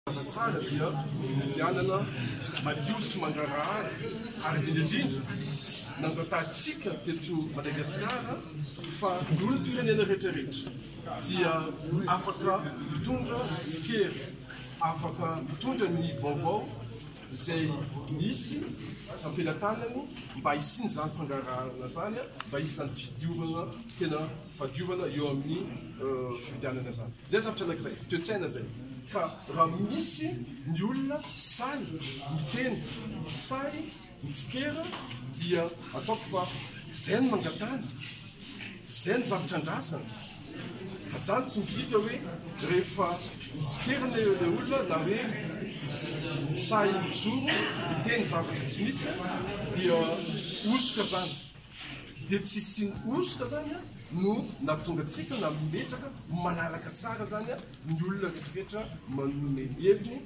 Mazava tsara dia ny fifidianana madio sy mangarahara ary indrindra indrindra nangatahantsika teto Madagasikara fa ny olom-pirenena rehetrarehetra dia afaka mitondra ny tsikera, afaka mitondra ny vaovao izay misy am-pelatanany mba hisian'izany fangaraharana izany, mba hisy izany fidiovana tena. fahadiovana eo amin'ny fifidianana izany. Izay zavatra anankiray, toe-tsaina izay. Ka raha misy ny olona sahy miteny, sahy mitsikera, dia ataoko fa izay no mangatahana, izay no zavatra andrasana. Fa zany tsy midika hoe rehefa mitsikerana eo ilay olona na hoe sahy mijoro miteny zavatra tsy misy dia hosoka zany. Dia tsy hisian'ny hosoka izany no nahatonga antsika nametraka manaraka tsara izany ny olona rehetrarehetra manome ny heviny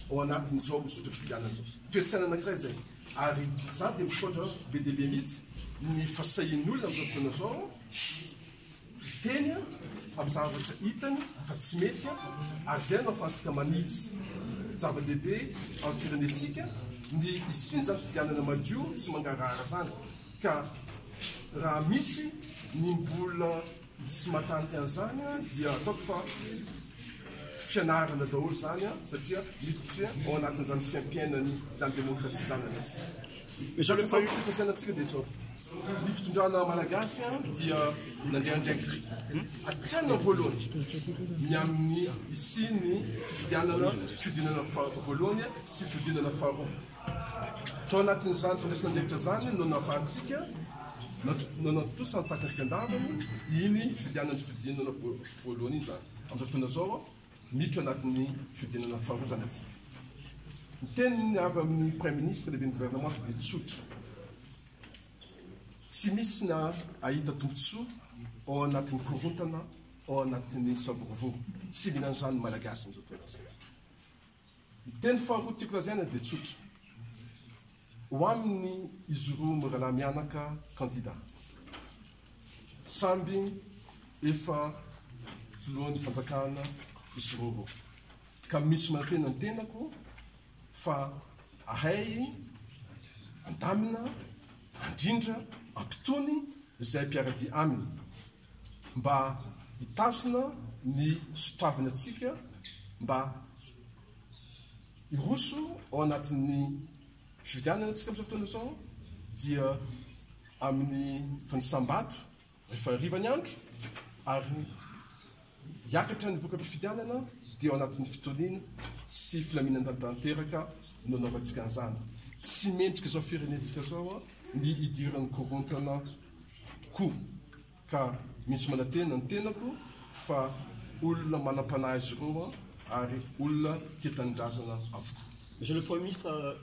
ao anatin'izao zotram-pifidianana izao. Toe-tsaina anankiray izay. Ary izaho dia misaotra be dia be mihitsy ny fasahian'ny olona amin'izao fotoana izao, fiteny amin'ny zavatra hitany fa tsy mety ary izay no ahafahantsika manitsy zava-dehibe amin'ny firenentsika ny hisian'izany fifidianana madio sy mangarahara izany ka raha misy ny mbola tsy matanty an'izany dia ataoko fa fianarana daholo izany satria miditra ao anatin'izany fiaimpiainany izany demokrasia izany anatsika. Izao rehefa fifandraisanantsika dia izao. Ny fitondrana malagasy dia nandray andraikitra hatrany amin'ny voalohany ny amin'ny hisian'ny fifidianana, fihodinana voalohany sy fihodinana faharoa. Tao anatin'izany fandraisana andraikitra izany no nahafahantsika nanantontosa an-tsakany sy an-davany iny fifidianana sy fihodinana voalohany iny izany. Amin'izao fotoana izao, miditra anatin'ny fihodinana faharoa izany antsika. Ny teny avy amin'ny Praiminisitra, Lehiben'ny Governemanta dia tsotra. Tsy misy ny hahita tombontsoa ao anatin'ny korontana, ao anatin'ny savorovoro. Tsy mila an'izany ny Malagasy amin'izao fotoana izao. Ny teny faharoa tiako lazaina dia tsotra. Ho amin'ny izy roa mirahalahy mianaka kandida. Samby efa filohan'ny fanjakana izy roa roa. Ka misy manantena ny tenako fa ahay andamina, andrindra, ampitony izay mpiara-dia aminy mba hitazona ny sotoavina antsika mba hiroso ao anatin'ny fifidianana antsika amin'izao fotoana izao dia amin'ny fanisam-bato Rehefa hariva ny andro ary hiakatra ny voka-pifidianana dia ao anatin'ny fitoniana sy filaminan-dra tanteraka no anaovantsika an'izany. Tsy mendrika izao firenentsika izao ny hidiran'ny korontana koa ka misy manantena ny tenako fa olona manam-panahy izy ireo ary olona tia tanindrazana avokoa. Monsieur le Premier ministre,